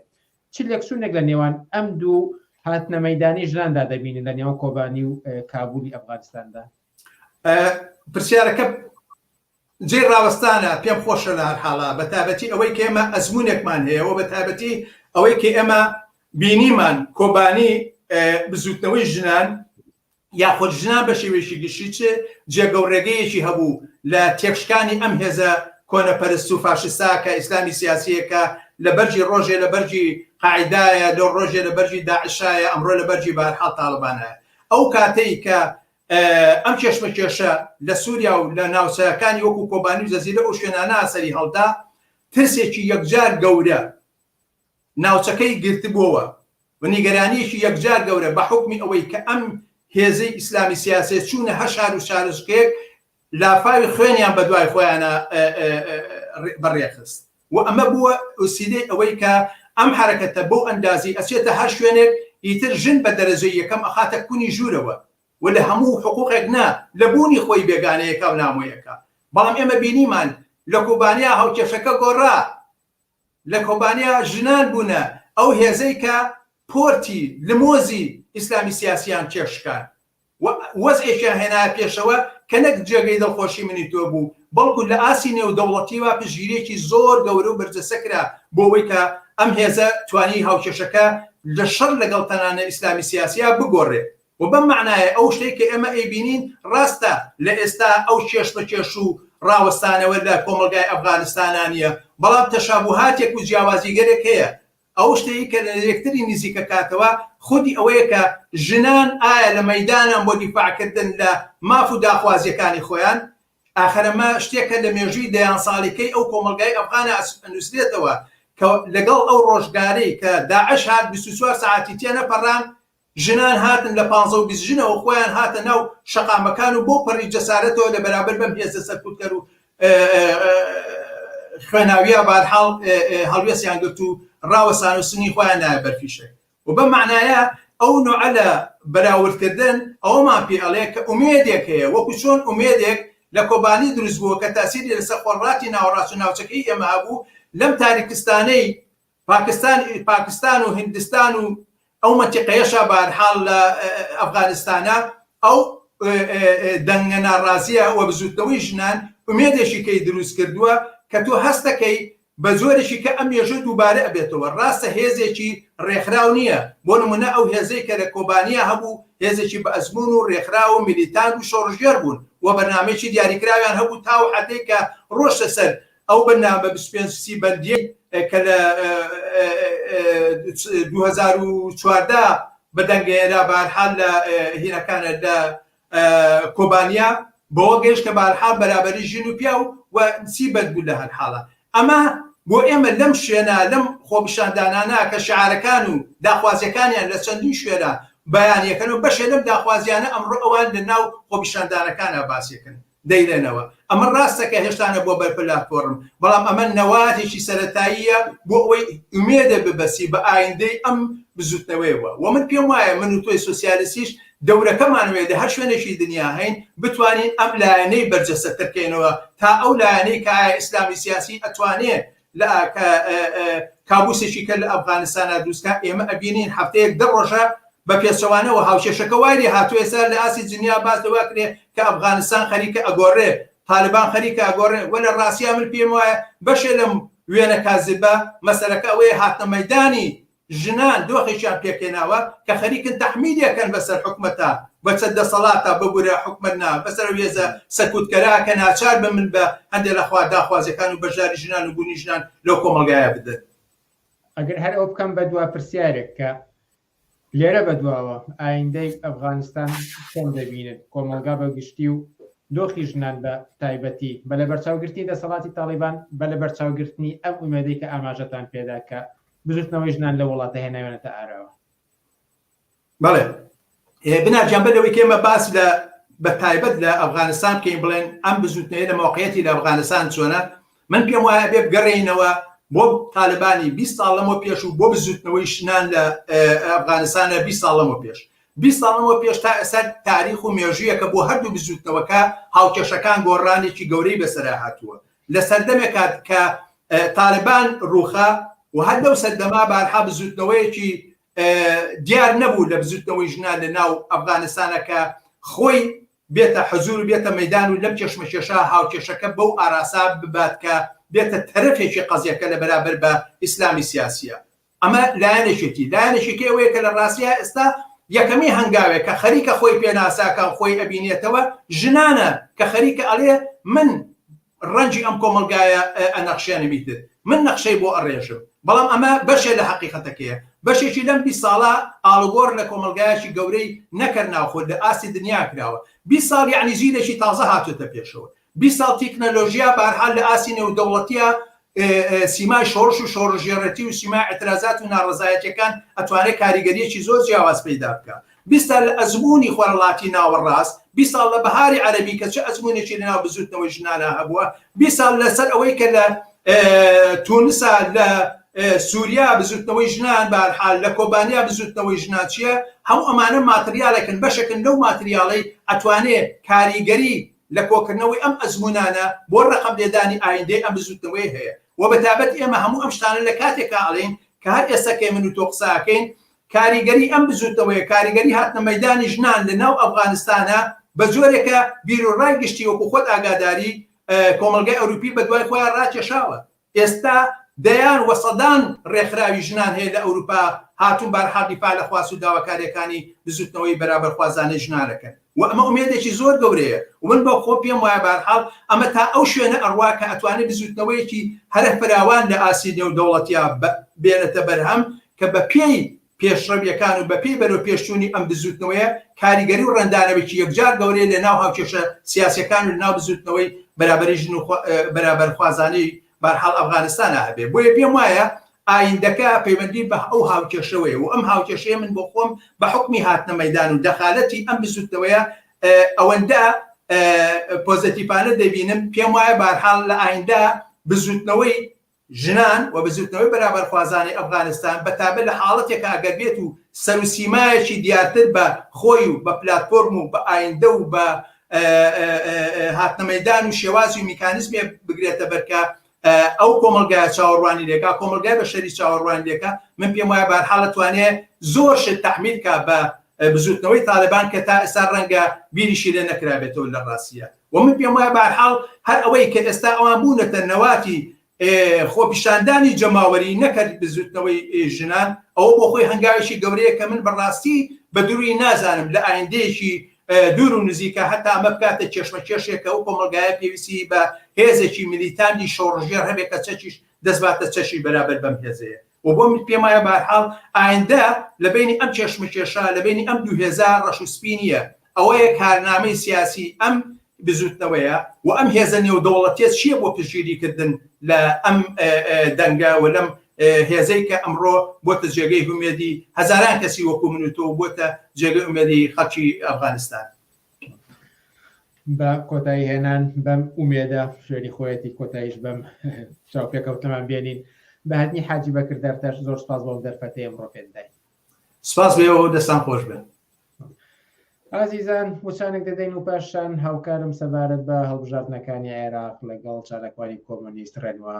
چ لێکچوونێک لە نێوان ئەم دوو هاتنە مەیدانی ژناندا دەبینن لە نێوان کۆبانی و کابولی ئەفغانستاندا؟ پرسیارەکە جێی ڕاوەستانە، پێم خۆشە لە هەر حاڵا بە تایبەتی ئەوەی کە ئێمە ئەزموونێکمان هەیە و بە تایبەتی ئەوەی کە ئێمە بینیمان کۆبانی بزووتنەوەی ژنان یاخود ژنان بە شێوێکی گشتی چ جێگە و ڕێگەیەکی هەبوو لە تێکشکانی ئەم هێزە کۆنەپەرست و فاشستا کە ئیسلامی سیاسیەکە لە بەرجی ڕۆژێ لە بەرجی قاعدایە لەو ڕۆژێ لە بەرجی داعشایە ئەمڕۆ لە بەرجی بارحاڵ تاالبانە ئەو کاتەی کە ئەم کێشمەکێشە لە سوریا و لە ناوچەکانی وەکو کۆبانی و جزیرە و شوێنانە سەریهەڵدا، ترسێکی یەکجار گەورە ناوچەکەی گرتبۆوە و نیگەرانیەکی یەکجار گەورە بە حوکمی ئەوەی کە ئەم هێزەی ئیسلامی سیاسیە چوونە هەر شار و شارۆچکەیەک لافاوی خوێنیان بە دوای خۆیانا بە رێخست و ئەمە بووە وسیلەی ئەوەی کە ئەم حەرەکەتە بەو ئەندازەی ئەچێتە هەر شوێنێک ئیتر ژن بە دەرەجەی یەکەم ئەخاتە کونی ژوورەوە و لە هەموو حقووقێک نا لە بوونی خۆی بێگانەیەکا و نامۆیەکە بەڵام ئێمە بینیمان لە کۆبانیا هاوکێشەکە گۆڕا لە کۆبانێ ژنان بوونە ئەو هێزەی کە پۆرتی لمۆزی ئیسلامی سیاسییان تێکشکاند و وەزعێکیان هێنایە پێشەوە کە نەک جێگەی دڵخۆشی منی تۆ بوو، بەڵکو لە ئاستی نێودەوڵەتییەوە پشتگیرییەکی زۆر گەورە و بەرجەستە کرا بۆ ئەوەی کە ئەم هێزە توانیی هاوکێشەکە لە شەڕ لەگەڵ تەنانە ئیسلامی سیاسییە بگۆڕێت. وە بەم مەعنایە ئەو شتەی کە ئێمە ئەیبینین ڕاستە لە ئێستا ئەو کێشمەکێش و ڕاوەستانەوە لە کۆمەڵگای ئەفغانستانا نیە بەڵام تەشابوهاتێک و جیاوازیگەلێک هەیە ئەو شتەی کە لە یەکتری نزیکەکاتەوە خودی ئەوەیە کە ژنان ئایا لە مەیدانان بۆ دیفاع کردن لە ماف و داخوازیەکانی خۆیان ئاخر ئەمە شتێکە لە مێژووی دەیان ساڵیکەی ئەو کۆمەڵگای ئەفغانا ئەنوسرێتەوە کە لەگەڵ ئەو ڕۆژگارەی کە داعش هات بیست و چوار سەعاتی تێنەپەڕان ژنان هاتن لە پانزە و بیست ژنەوە خۆیان هاتە ناو شەقامەکان و بەو پەڕی جەسارەتەوە لە بەرابەر بەم هێزە سەرکوتکەر و خوێناویە بەهەرحاڵ هەڵوێستیان گرت و ڕاوەستان و سنگی خۆیان نایە بەر فیشەک و بەم مەعنایە ئەو نۆعە لە بەراوردکردن ئەوەمان پێ ئەڵێ کە ئومێدێک هەیە وەکو چۆن ئومێدێک لە کۆبانی دروست بووە کە تاسیری لەسەر خۆرڕاتی ناوەڕاست و ناوچەکەی ئێمە هەبوو لەم تاریکستانەی پاکستان پاکستان و هندستان و ئەو مەتیقەیەشە بارحاڵ لە ئەفغانستانە ئەو دەنگە ناڕازیە و بزوتنەوەی ژنان ئومێدێکی کەی دروست کردووە کە تۆ هەستەکەی بە جۆرێکی کە ئەم مێژە دووبارە ئەبێتەوە ڕاستە هێزێکی ڕێکخراو نییە بۆ نمونە ئەو هێزەی کە لە کۆبانیا هەبوو هێزێکی بە ئەزمون و ڕێکخراو و میلیتان و شۆڕشگێر بوون و بەرنامەیەکی دیاریکراویان هەبوو تاو حەدێک کە ڕۆشتە سەر ئەو بەرنامە بیست و پێنج سی بەندیەی کە لە دوو هەزار و چواردە بەدەنگەیەرا بەهەرحال لە هینەکانە لە کۆبانیا بەوە گەیشت کە بەهەرحال بەرابەری ژن و پیاو و سی بەند بوو لە هەرحاڵە ئەمە بۆ ئێمە لەم شوێنە لەم خۆپیشاندانانە کە شعارەکان و داخوازیەکانیان لە چەندین شوێنە بەیانەکەن و بەشێ لەم داخوازیانە ئەمڕۆ ئەوان لە ناو خۆپیشاندانەکانا باسیەکەن. دەیڵێنەوە ئەمە ڕاستە کە هێشتا نە بووە بەرپلاتفۆرم بەڵام ئەمە نەوازێکی سەرەتاییە بۆ ئەوەی ئومێدە ببەسی بە ئایندەی ئەم بزوتنەوەیەوە وە من پێم وایە من و تۆی سۆسیالستیش دەورەکەمان وەیە لە هەر شوێنێکی دنیا هەین بتوانین ئەم لایەنەی بەرجەستە تر کەینەوە تا ئەو لایەنەی کە ئایا ئیسلامی سیاسی ئەتوانێ لە کابوسێکی کە لە ئەفغانستانا دروستکا ئێمە ئەبینین هەفتەیەک دە ڕۆژە بە پێچەوانەوە هاوکێشەکە وای لێ هاتووە ئێستا لە ئاستی جنیا باس لە واکرێ کە ئەفغانستان خەریکە ئەگۆڕێ تالبان خەریکە ئەگۆڕێ وە لە ڕاستیا من پێم وایە بەشێ لەم وێنە کازبە مەسەلەکە ئەوەیە هاتنە مەیدانی ژنان دۆخێکیان پێکهێناوە کە خەریکن تەحمیلی ئەکەن بەسەر حکومەتا بەسەر دەسەڵاتا ببورە حکومەت نا بەسەر ئەو هێزە سەکوتکەرا کە ناچار بن من بە هەندێ لە خوا داخوازیەکان و بەشداری ژنان و بونی ژنان لەو کۆمەڵگایە بدەن. ئەگەر هەر ئەو بکەم بە دوا پرسیارێک کە لێرە بە دواوە ئایندەی ئەفغانستان چۆن دەبینن کۆمەڵگا بە گشتی و دۆخی ژنان بە تایبەتی بە لە بەرچاوگرتنی دەسەڵاتی تاڵیبان بە لە بەرچاوگرتنی ئەم ئومێدەی کە ئاماژەتان پێدا کە بزوتنەوەی ژنان لەو وڵاتە هێناویانەتە ئاراوە. بەڵێ بنار گیان بەر لەوەی کە ئێمە باس لە بە تایبەت لە ئەفغانستان بکەین بڵێن ئەم بزوتنەوەیە لە مۆقعیەتی لە ئەفغانستان چۆنە من پێم وایە بێ بگەڕێینەوە بۆ تالبانی 20 ساڵ لەمەوە پێش و بۆ بزوتنەوەی شنان لە ئەفغانستانە 20 ساڵ لەمەوە پێش 20 ساڵەوە پێش تا ئێستا تاریخ و مێژوویەکە بۆ هەردوو بزوتنەوەکە هاوکێشەکان گۆڕانێکی گەورەی بەسەر هاتووە لە سەردەمێکا کە تالبان رووخا و هەر لەو سەردەما بارها بزووتنەوەیەکی دیار نەبوو لە بزووتنەوەی ژنان لە ناو ئەفغانستانە کە خۆی بێتە حەزور و بێتە مەدان و لەم کێشمەکێشە هاوکێشەکە بەو ئاراسا ببات کە بێتە تەرەفێکی قەزیەکە لە بەرابەر بە ئیسلامی سیاسیە. ئەمە لایەنێکێتی، لایەنێکیکەی ئەوەیە کە لە ڕاستییا ئێستا یەکەمین هەنگاوێک کە خەریکە خۆی پێناساکا و خۆی ئەبینێتەوە ژنانە کە خەریکە ئەڵێ من ڕەنجی ئەم کۆمەڵگایە ئەنەخشێنم ئیتر من نەخشەی بۆ ئەڕێژم، بەڵام ئەمە بەشێ لە حەقیقەتەکەیە، بەشێکی لەم بیست ساڵە ئاڵوگۆڕ لە کۆمەڵگایەکی گەورەی نەکەر ناوخۆ لە ئاستی دنیا کراوە، بیست ساڵ یەعنی جیلێکی تازە هاتۆتە پێشەوە، بیست ساڵ تیکنەلۆژیا بەهەرحال لە ئاستی نێودەوڵەتیە سیمای شۆڕش و شۆڕژێڕێتی و سیمای ئەترازات و ناڕەزایەتیەکان ئەتوانێت کاریگەریەکی زۆر جیاواز پەیدا بکە بیست سال لە ئەزمونی خۆرەڵاتی ناوەڕاست بیست ساڵ لە بەهاری عەرەبی کە چ ئەزمونێکی لەناو بزوتنەوەی ژنانا هەبووە بیست ساڵ لەسەر ئەوەی کە لە تونسا لە سووریا بزوتنەوەی ژنان بارحال لە کۆبانیا بزوتنەوەی ژنان چییە هەم ئەمانە ماتریالێکن بەشەکن لەو ماتریاڵەی ئەتوانێ کاریگەری لە کۆکردنەوەی ئەم ئەزموونانە بۆ ڕەقەم لێدانی ئایندەی ئەم بزووتنەوەیە هەیە و بە تابەت ئێمە هەموو ئەم شتانە لە کاتێکا ئەڵێین کە هەر ئێستا کە من و تۆ قسە ئەکەین کاریگەری ئەم بزووتنەوەیە کاریگەری هاتنە مەیدانی ژنان لە ناو ئەفغانستانە بە جۆرێکە بیروڕای گشتی وەکوو خۆت ئاگاداری کۆمەڵگای ئەوروپی بە دوای خۆیا ڕاکێشاوە. ئێستا دەیان و سەدان ڕێکخراوی ژنان هەیە لە ئەوروپا هاتوون بارحاڵ دیفاع لە خواست و داواکاریەکانی بزوتنەوەی بەرابەرخوازانەی ژنان ئەکەن و ئەمە ئومێدێکی زۆر گەورەیە و من بە خۆم پێم وایە بارحاڵ ئەمە تا ئەو شوێنە ئەڕوا کە ئەتوانێت بزوتنەوەیەکی هەرە فراوان لە ئاستی نێودەوڵەتیا بێنێتە بەرهەم کە بە پێی پێشڕەوییەکان و بەپێی بەرەوپێشچوونی ئەم بزووتنەوەیە، کاریگەری و ڕەنگدانەوەیەکی یەکجار گەورەی لەناو هاوکێشە سیاسییەکان و لەناو بزووتنەوەی بەرابەری ژن و بەرابەرخوازانەی بەرحاڵ ئەفغانستانا هەبێ. بۆیە پێم وایە ئایندەکە پەیوەندی بە ئەو هاوکێشەوەیە و ئەم هاوکێشەیە من بۆ خۆم بە حوکمی هاتنە مەیدان و دەخالەتی ئەم بزووتنەوەیە ئەوەندە پۆزەتیفانە دەبینم، پێم وایە بەرحاڵ لە ئایندە بزووتنەوەی ژنان و بزووتنەوەی بەرابەرخوازانی ئەفغانستان بە تایبەت لە حاڵەتێکا ئەگەر بێت و سەر و سیمایەکی دیارتر بە خۆی و بە پلاتفۆرم و بە ئایندە و بە هاتنە مەیدان و شێوازی و میکانیزمێ بگرێتە بەر کە ئەو کۆمەلگایە چاوەڕوانی لێکا کۆمەلگای بە شەری چاوەڕوانی لێکە من پێم وایە بارحاڵ توانێ زۆر شت تحمیلکە بە بزوتنەوەی تالبان کە تا ئێستا ڕەنگە بیریشی لێ نەکرابێتەوە لە ڕاستیە وە من پێم وایە بەهەرحاڵ هەر ئەوەی کە ئێستا ئەوان بوونەتە نەواتی خۆپیشاندانی جەماوەری نەکە بزوتنەوەی ژنان ئەوە بۆ خۆی هەنگاوێکی گەورەیە کە من بەڕاستی بە دروی نازانم لە ئایندەیەکی دوور و نزیکە هەتا ئەمە بکاتە کێشمە کێشێکە و کۆمەلگایە پێویستی بە هێزێکی ملیتاندی شۆڕژێر هەبێت کە چەکیش دەستباتە چەکی بەرابەر بەم هێزەیە و بۆ من پێموایە بە هەر حاڵ ئایندە لە بەینی ئەم کێشمەکێشە، لە بەینی ئەم دوو هێزە ڕەش و سپی نییە، ئەوەیە کارنامەی سیاسی ئەم بزووتنەوەیە و ئەم هێزە نێودەوڵەتیە چییە بۆ پشتگیری کردن لە ئەم دەنگە و لەم هێزەی کە ئەمڕۆ بۆتە جێگەی هومێدی هەزاران کەسی وەکو من و تۆ و بۆتە جێگەی ئومێدی خەڵکی ئەفغانستان. بە کۆتایی هێنان بەم ئومێدە شوێنی خۆیەتی کۆتاییش بەم چاوپێکەوتنەمان بێنین بە هاتنی حاجی بەکر دەرتەش زۆر سپاس بۆم دەرفەتەی ئەمڕۆ پێت داین سپاس بێ ئەو دەستان خۆش بن ئازیزان وچانێک دەدەین و پاشان هاوکارم سەبارەت بە هەڵبژاردنەکانی عێراق لەگەڵ چالاکوانی کۆمۆنیست ڕێنوا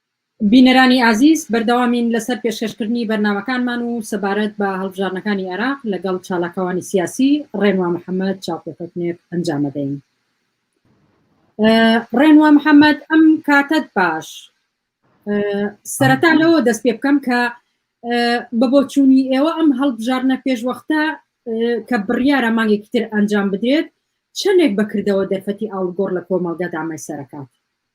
بینەرانی ئازیز بەردەوامین لەسەر پێشکەشکردنی بەرنامەکانمان و سەبارەت بە هەڵبژاردنەکانی عێراق لەگەڵ چالاکوانی سیاسی ڕێنوا محەمەد چاوپێکەوتنێک ئەنجامەدەین. ڕێنوا محەمەد ئەم کاتەت باش سەرەتا لەوە دەست پێ بکەم کە بە بۆچوونی ئێوە ئەم هەڵبژاردنە پێشوەختە کە بڕیارە مانگێکی تر ئەنجام بدرێت چەندێک بەکردەوە دەرفەتی ئاڵگۆڕ لە کۆمەڵگەدا مەسەرەکات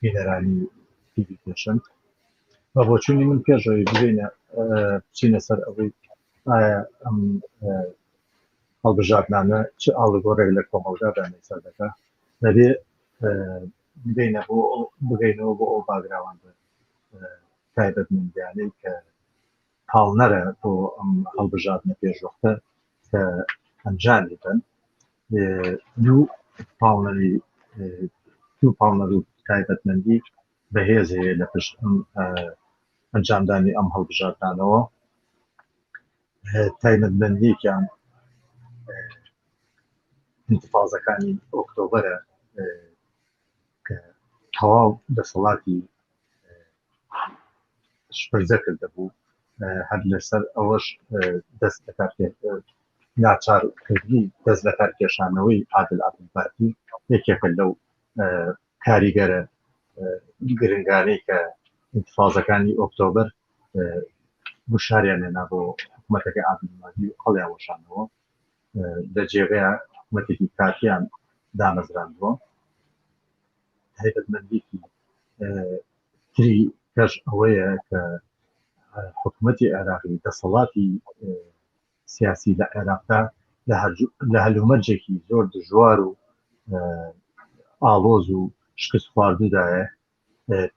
بینەرانی تیوی پێشەند بە بۆچوونی من پێشەوەی ببینە بچینە سەر ئەوەی ئایا ئەم هەڵبژاردنانە چ ئاڵگۆڕێک لە کۆمەڵگا دامێسا دەکە دەبێ بگەینە بۆ بگەینەوە بۆ ئەو باگراوان تایبەت مندیانەی کە پاڵنەرە بۆ ئەم هەڵبژاردنە پێشوەختە کە ئەنجامی بن دوو پاڵنەری دوو پاڵنەر و تایبەتمەندی بەهێز هەیە لە پشت ئەم ئەنجامدانی ئەم هەڵبژاردانەوە تایبەتمەندیەکیان انتفاازەکانی ئۆکتۆبرە کە تەواو دەسەڵاتی شپرزە کردبوو هەر لەسەر ئەوەش دەست لەکار ناچار کردنی دەست لەکار کێشانەوەی عادل عبدالباقی یەکێکە لەو کاریگەرە گرنگانەی کە انتفاضەکانی ئۆکتۆبر گوشاریان لێنا بۆ حکوومەتەکە ئابنمادی هەڵیان وەشانەوە لە جێگەیە حکوومەتێکی کاتیان دامەزراندووە تایبەتمەندێکی تری کەش ئەوەیە کە حکوومەتی عێراقی دەسەڵاتی سیاسی لە عێراقدا لە هەلومەرجێکی زۆر دژوار و ئاڵۆز و شکست خواردودایە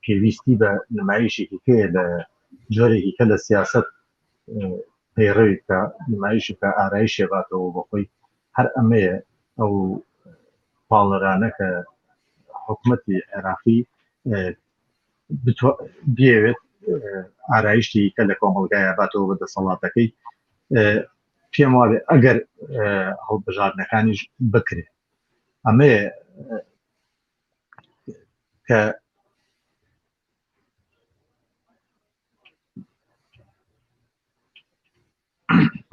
پێویستی بە نمایشێکی پێ لە جۆرێکی کە لە سیاست پەیڕەوی بکە نمایشی کە ئارایشێ باتەوە بەخۆی هەر ئەمەیە ئەو پاڵەرانە کە حکوومەتی عێراقی بێوێت ئارایشتی کە لە کۆمەلگایە باتەوە بە دەسەڵاتەکەی پێم وابێ ئەگەر هەڵبژاردنەکانیش بکرێت ئەمە کە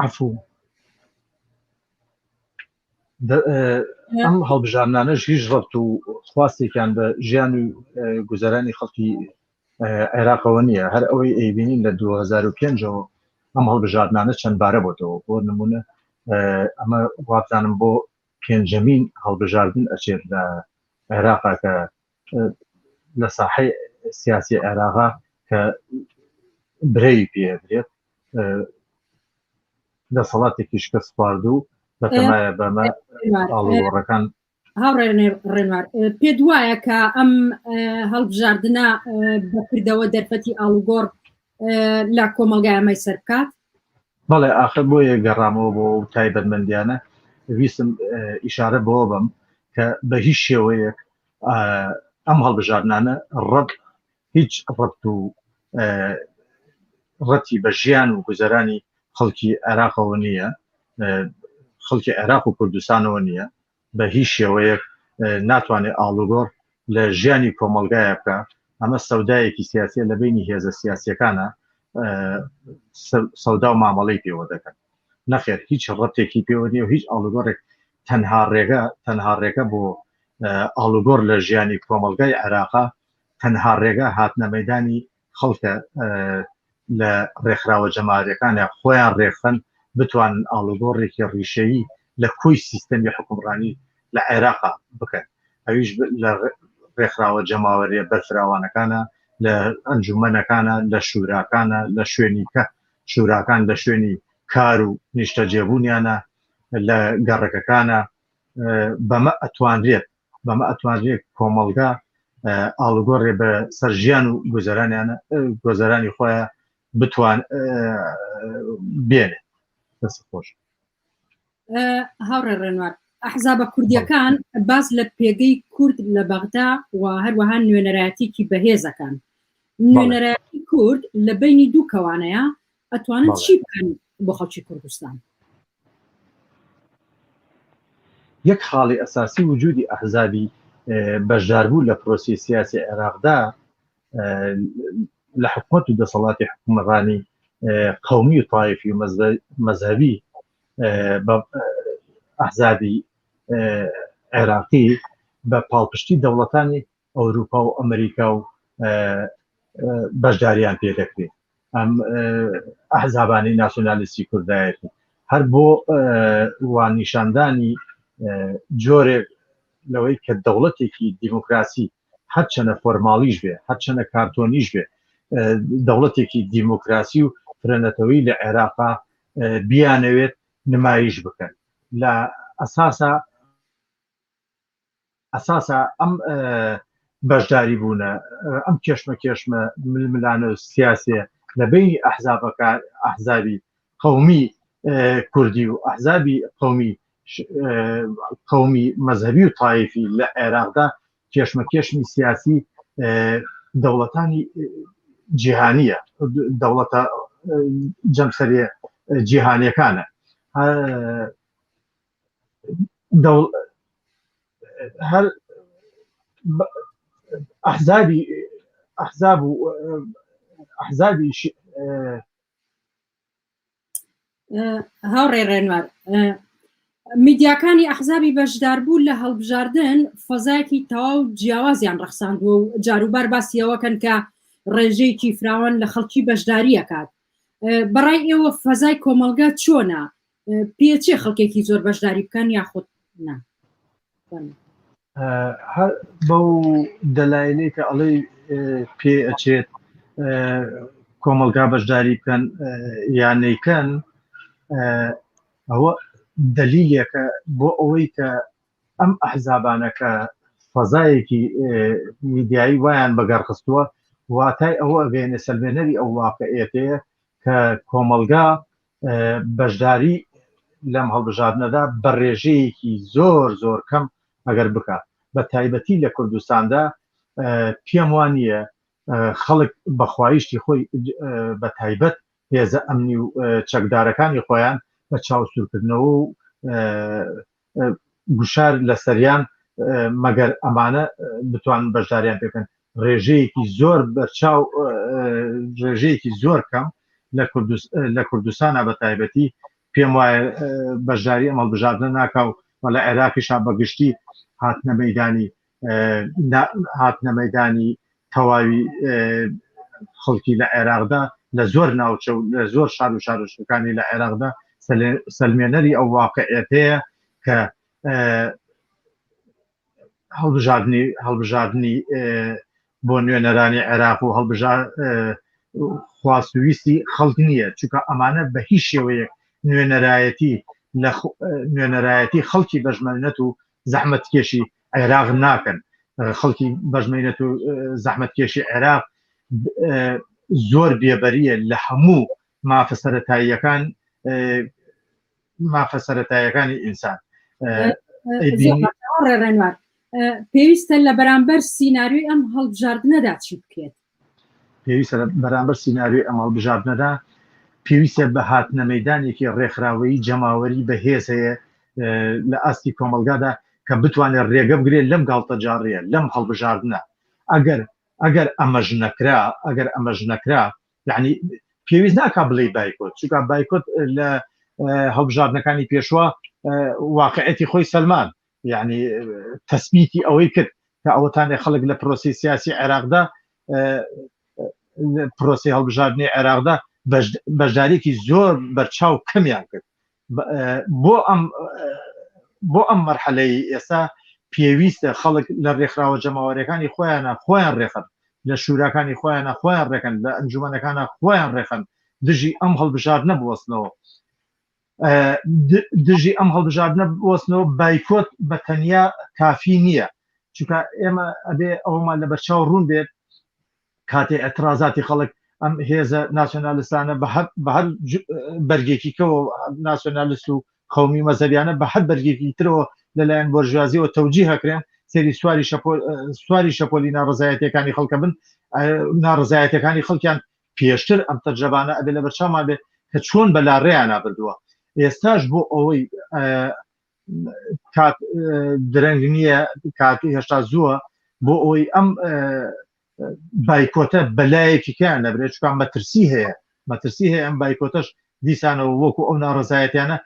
عفوو ئەم هەڵبژارنانەش هیچ ڕبت و خواستێکیان بە ژیان و گوزەرانی خەڵکی عێراقەوە نییە هەر ئەوەی ئەیبینین لە 2005ەوە ئەم هەڵبژاردنانە چەند بارە بۆتەوە بۆ نمونە ئەمە وابزانم بۆ پێنجەمین هەڵبژاردن ئەچێت لە عێراقا کە لە ساحەی سیاسی عێراقا کە برەوی پێدرێت دەسەڵاتێکی شکست خوارد و بەتەمایە بەمە ئاڵوڕەکان هاوڕێ ڕێنوار پێ دوایە کە ئەم هەڵبژاردنە بەکردەوە دەرفەتی ئاڵوگۆڕ لە کۆمەلگای ئەمەی سەر بکات بەڵێ ئاخر بۆیە گەڕامەوە بۆ تایبەتمەندیانە ویستم ئیشارە بۆ بم کە بە هیچ شێوەیەک ئەم هەڵبژاردنانە ڕەت هیچ ڕەت و ڕەتی بە ژیان و گوزەرانی خەڵکی عێراقەوە نییە خەڵکی عێراق و کوردستانەوە نییە بە هیچ شێوەیەک ناتوانێت ئاڵوگۆڕ لە ژیانی کۆمەلگایە بکە ئەمە سەودایەکی سیاسە لە بینی هێزە سیاسەکانە سەودا و مامەڵی پێوە دەکەن نەخێر هیچ ڕەتێکی پێوە نیە و هیچ ئاڵوگۆڕێک تەنها ڕێگە تەنها ڕێگە بۆ ئاڵوگۆڕ لە ژیانی کۆمەڵگای عێراقا تەنها ڕێگە هاتنە مەدانی خەڵکە لە ڕێکخراوە جەماریەکانە خۆیان ڕێخەن بتوانن ئاڵوگۆڕێکی ڕیشەیی لە کۆی سیستەمی حکومڕانی لە عێراقا بکەن ئەویش لە ڕێکخراوە جەماوەریە بەرفراوانەکانە لە ئەنجومەنەکانە لە شوراکانە لە شوێنی کە شوراکان لە شوێنی کار و نیشتەجێبوونیانە لە گەڕەکەکانە بەمە ئەتوانرێت بەمە ئەتوانرێت کۆمەڵگا ئاڵگۆڕێ بە سەر ژیان و گوزەرانیانە گۆزەرانی خۆیان بتوان بێنێت دەست خۆش هاوڕێ ڕێنوار ئەحزابە کوردیەکان باز لە پێگەی کورد لە بەغدا و هەروەها نوێنەرایەتێکی بەهێزەکان نوێنەرایەتی کورد لە بینی دوو کەوانەیە ئەتوانن چی بکەن بۆ خەڵکی کوردستان؟ یەک خاڵی ئەساسی وجودی ئەحزابی بەشداربوو لە پرۆسی سیاسی عێراقدا لە حکومت و دەسەڵاتی حکومڕانی قومی و تایفی و مەذهبی ئەحزابی عێراقی بە پاڵپشتی دەوڵەتانی ئەوروپا و ئەمریکا و بەشداریان پێ دەکرێت ئەم ئەحزابانی ناسیۆنالیستی کوردایەتی هەر بۆ وان نیشاندانی جۆرێک لەوەی کە دەوڵەتێکی دیموکراسی هەرچەنە فۆرماڵیش بێ هەرچەنە کارتۆنیش بێ دەوڵەتێکی دیموکراسی و فرەنەتەوەی لە عێراقا بیانەوێت نمایش بکەن لە ئەساسا ئەساسە ئەم بەشداری بوونە ئەم کێشمە کێشمە ململانە و سیاسێ لە بینی ئەحزابەکە ئەحزابی قومی کوردی و ئەحزابی قومی قومی مەذهبی و تایفی لە عێراقدا کێشمە کێشمی سیاسی دەوڵەتانی جیهانیە دەوڵەتە جەمسەرێ جیهانەکانە هەر ئەحزابی ئەحزاب و ئەحزابی هاوڕێ ڕێنوار میدیاکانی ئەحزابی بەشداربوو لە هەڵبژاردن فەزایەکی تەواو جیاوازیان ڕەخساندووە و جاروبار باسیەوەکەن کە ڕێژەیەکی فراوان لە خەڵکی بەشداریەکات بەڕای ئێوە فەزای کۆمەلگا چۆنا پێچێ خەڵکێکی زۆر بەشداری بکەن یاخود نا بەو دەلاینەی کە ئەڵێ پێ ئەچێت کۆمەلگا بەشداری بکەن یانەیکەن ئەوە دەلیلێکە بۆ ئەوەی کە ئەم ئەحزابانەکە فەزایەکی میدیایی وایان بەگەڕخستووە واتای ئەوە ئەگەێنە سەلمێنەری ئەو واقعێتەیە کە کۆمەلگا بەشداری لەم هەڵبژاردنەدا بە ڕێژەیەکی زۆر زۆر کەم ئەگەر بکات بە تایبەتی لە کوردستاندا پێم وان نیە خەڵک بەخوایشتی خۆی بە تایبەت هێزە ئەمنی و چەکدارەکانی خۆیان بە چاوسورکردنەوە و گوشار لەسەریان مەگەر ئەمانە بتوان بەشداریان پێکەن ڕێژەیەکی زۆر بەرچاو ڕێژەیەکی زۆر کەم لە کوردستانە بە تایبەتی پێم وایە بەشداری ئەمەڵ بژاردنە ناکاو و لە عێراقیشا بەگشتی هاتنە مەدانی هاتنە مەدانی تەواوی خەڵکی لە عێراقدا لە زۆر ناوچە و لە زۆر شار و شارۆچکەکانی لە عێراقدا سلمێنەری ئەو واقعەتەیە کە هەڵبژاردننی هەڵبژاردننی بۆ نوێنەرانی عێراق و هەڵبژار خواست ویستی خەڵک نییە چونکە ئەمانە بە هیچ شێوەیەک نوێنەرایەتی لە نوێنەرایەتی خەڵکی بەژمەرنەت و زەحمەتکێشی عێراق ناکەن خەڵکی بەژمەینەت و زەحمەتکێشی عێراق زۆر بێبەریە لە هەموو مافە سەتاییەکان مافە سەتاییەکانی ئینسان ڕێڕێنوار پێویستە لە بەرامبەر سینناریۆی ئەم هەڵبژاردنەدا چی بکرێت پێویستە لە بەرامبەر سیناریۆی ئەم هەڵبژاردنەدا پێویستە بە هاتنە مەدانێکی ڕێکخراوەیی جەماوەری بەهێز هەیە لە ئاستی کۆمەلگادا کە بتوانێت ڕێگە بگرێت لەم گاڵتەجاڕیە لەم هەڵبژاردنە ئەگەر ئەگەر ئەمەش نەکرا ئەگەر ئەمەش نەکرا یعنی پێویست ناکا بڵێ بایکۆت چونکە بایکۆت لە هەڵبژاردنەکانی پێشوە واقعەتی خۆی سەلمان یەعنی تەسبیتی ئەوەی کرد کە ئەوەتانێ خەڵک لە پرۆسەی سیاسی عێراقدا پرۆسی هەڵبژاردنی عێراقدا بەشدارێکی زۆر بەرچاو کەمیان کرد بۆ ئەم بۆ ئەم مەرحەلەی ئێستا پێویستە خەڵک لە ڕێکخراوە جەماوەرەکانی خۆیانە خۆیان ڕێخن لە شوراکانی خۆیانە خۆیان ڕێکن لە ئەنجومەنەکانە خۆیان ڕێخن دژی ئەم هەڵبژار نەبوەستنەوە دژی ئەم هەڵبژاردنە بوەستنەوە بایکۆت بە تەنیا کافی نییە چونکە ئێمە ئەبێ ئەومان لە بەرچاو ڕوون بێت کاتێ ئەترازاتی خەڵک ئەم هێزە ناسیۆنالستانە بە هەر بەرگێکیکەوە ناسیۆنالست و قومی مەزەریانە بە هەر بەرگێکی ترەوە لەلایەن بۆرژازیەوە تەوجی هەکرێن سری سواری سواری شەپۆلی ناڕزایەتەکانی خەڵکە بن ناڕزایەتەکانی خەڵکیان پێشتر ئەم تەجرەبانە ئەبێ لەبەرچاومان بێ کە چۆن بەلا رێیانا بردووە ئێستاش بۆ ئەوەی کات درەنگ نییە کاتی هێشتا زووە بۆ ئەوەی ئەم بایکۆتە بەلایەکی کیان نەبرێت چکان مەترسی هەیە مەترسی هەیە ئەم بایکۆتەش دیسانەوە وەکو ئەو ناڕەزایەتیانە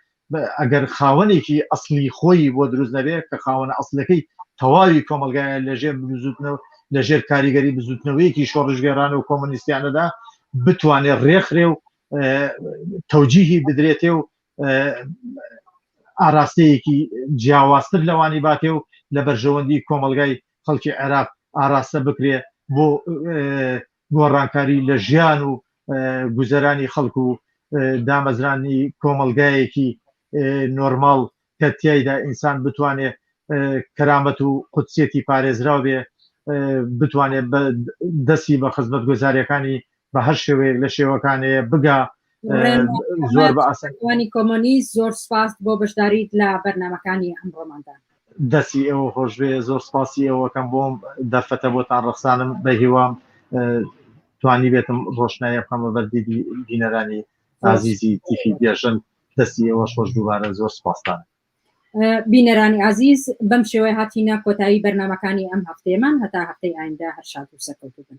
ئەگەر خاوەنێکی ئەسلی خۆی بۆ دروست نەبێت کە خاوەنە ئەسلەکەی تەواوی کۆمەلگایە لەژێر بزوتنەوە لەژێر کاریگەری بزوتنەوەیەکی شۆڕشگێرانە و کۆمۆنیستیانەدا بتوانێت ڕێکخرێ و تەوجیهی بدرێتێ و ئاراستەیەکی جیاوازتر لەوانی باتێ و لە بەرژەوەندی کۆمەلگای خەڵکی عێراق ئاراستە بکرێ بۆ گۆڕانکاری لە ژیان و گوزەرانی خەڵک و دامەزرانی کۆمەڵگایەکی نۆرماڵ کە تیایدا ئینسان بتوانێ کەرامەت و قودسیەتی پارێزراو بێ بتوانێت دەستی بە خزمەت گۆزاریەکانی بە هەر شێوەیەک لە شێوەکانەیە بگا زۆر بەسانی کۆمۆنی زۆر سپاست بۆ بەشداریت لە بەرنمەکانی ئەم ڕۆماندا دەسی ئەوە خۆشبێ زۆر سپاسی ئەوەکەم بۆم دەرفەتە بۆتان ڕخسانم بە هیوام توانی بێتم ڕۆشنایە بخەمە بەردی دینەرانی ئازیزی تیفی گێژن دەستی ئەوە خۆش دووبارە زۆر سپاستان بینەرانی ئازیز بەم شێوەی هاتیینە کۆتایی بەرنمەکانی ئەم هەفتێمان هەتا هەفتەی ئایندا هەر شاد و سەرکەوتوبن